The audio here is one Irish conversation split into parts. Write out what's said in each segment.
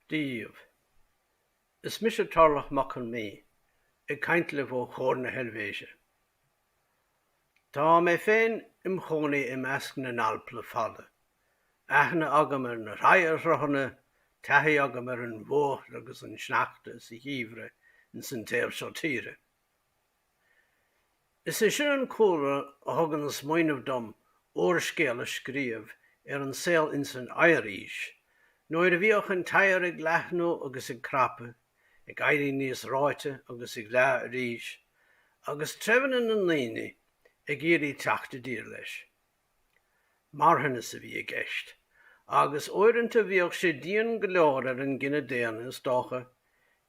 daoibh. Is mise Torlach Mac Con Midhe, ag caint libh ó Chur na hEilvéise. Tá mé féin im chónaí i measc na nAlp le fada, aithne agam ar na hoighearshruthanna, taithí agam ar an bhfuacht agus an sneachta sa gheimhreadh ins an taobh seo tíre. Is é sin an cúlra a thug an smaoineamh dom úrscéal a scríobh ar an saol insan Oighearaois, nuair a bhíodh an t-oighear ag leathnú agus ag crapadh, ag éirí níos reoite agus ag leá arís, agus treibheanna na ndaoine ag iarraidh teacht i dtír leis. Marthanas a bhí i gceist, agus uaireanta bhíodh sé dian go leor ar an gcine daonna is dócha,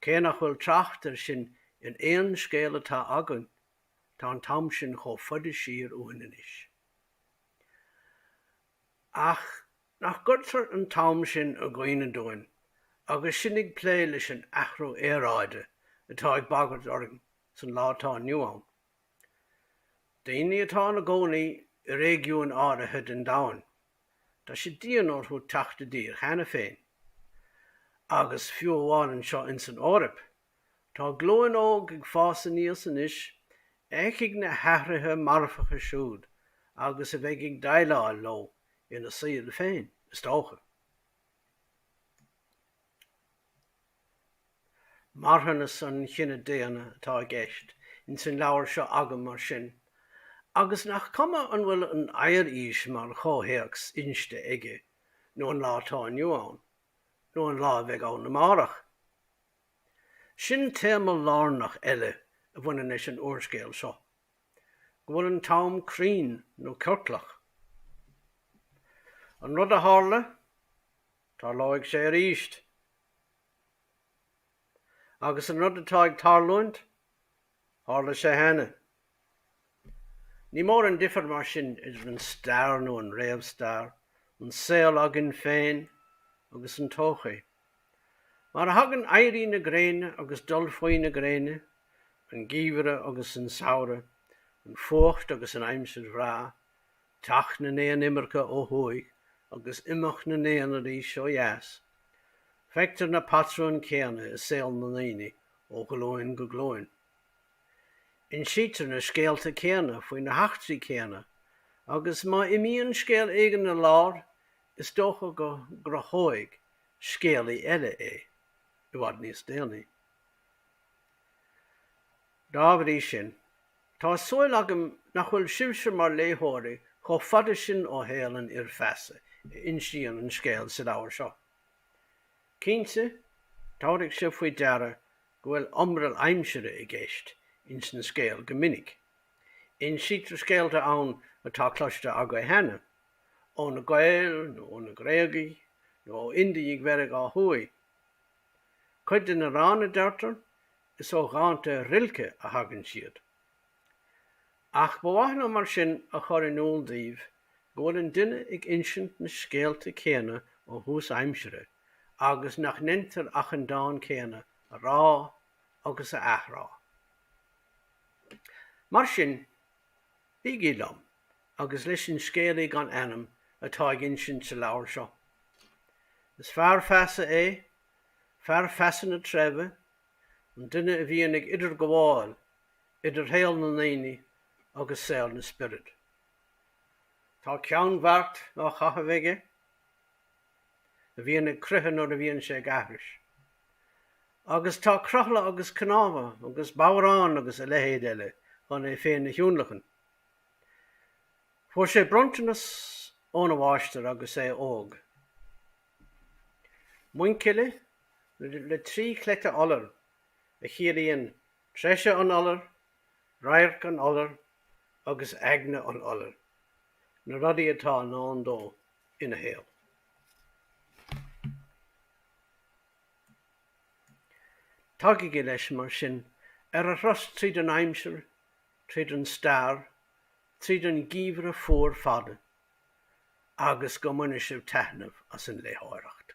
cé nach bhfuil trácht ar sin in aon scéal atá againn, tá an t-am sin chomh fada siar uainn anois. Ach nach gcuirtear an t-am sin i gcuimhne dúinn agus sinn ag plé leis an athrú aeráide atá ag bagairt orainn san lá atá inniu ann? Daoine atá ina gcónaí i réigiúin áirithe den domhan, tá sé dian orthu teacht i dtír cheana féin. Agus fiú amháin anseo in san Eoraip, tá glúin óg ag fás aníos anois a fheicfidh na hathruithe marfacha siúd agus a bheidh ag déileáil leo ina saol féin, is dócha. Marthanas an chine daonna atá i gceist ins an leabhar seo agam mar sin, agus nach cuma an bhfuil an Oighearaois mar chomhthéacs inste aige, nó an lá atá inniu ann, nó an lá a bheidh ann amárach. Sin téama lárnach eile a bhaineann leis an úrscéal seo, go bhfuil an t-am cruinn nó ciorclach. An rud a tharla, Tarlóidh sé arís. Agus an rud atá ag tarlúint, tharla sé cheana. Ní mór an difear mar sin idir an stair nó an réamhstair, an saol againn féin, agus an todhchaí. Mar a thagann éirí na gréine agus dul faoi na gréine, an geimhreadh agus an samhradh, an fuacht agus an aimsir bhreá, teacht na n-éan imirce ó thuaidh agus imeacht na n-éan arís ó dheas. Feictear na patrúin céanna i saol na ndaoine ó ghlúin go glúin. Insítear na scéalta céanna faoi na heachtraí céanna agus má imíonn scéal éigin ar lár, is dócha go gcruthóidh scéalaí eile é i bhfad níos déanaí. Dá bhrí sin, tá súil agam nach bhfuil sibhse mar léitheoirí chomh fada sin ó shaol an fhir feasa a insíonn an scéal sa leabhar seo. Cinnte, tabharfaidh sibh faoi deara go bhfuil iomrall aimsire i gceist insan scéal go minic. Insítear scéalta ann atá cloiste agaibh cheana, ó na Gaeil nó ó na Gréagaigh nó ó Indiaigh Mheiriceá Thuaidh. Cuid de na ranna, deirtear, Is ó dhánta Rilke a thagann siad. Ach ba mhaith liom mar sin a chur in iúl daoibh go bhfuil an duine ag insint na scéalta céanna ó thús aimsire agus nach ndéantar ach an dán céanna a rá agus a athrá. Mar sin, bígí liom agus leis an scéalaí gan ainm atá ag insint sa leabhar seo. Is fear feasa é, fear feasa na treibhe an duine a bhíonn ag idirghabháil idir shaol na ndaoine agus saol na spiorad. Tá ceannbheart á chaitheamh aige a bhíonn ag croitheadh nuair a bhíonn sé ag aithris. Agus tá crothla agus cnámha agus bodhrán agus a leithéid eile chun é féin a thionlacan. Fuair sé bronntanas óna mháistir agus é óg. Muinchille. le trí chleite iolair, a chiallaíonn treise an iolair, radharc an iolair agus eagna an iolair, na rudaí atá i ndán dó ina shaol. Tagaigí leis, mar sin, ar a thuras tríd an aimsir, tríd an stair, tríd an gheimhreadh fuar fada, agus go mbaine sibh taitneamh as an léitheoireacht.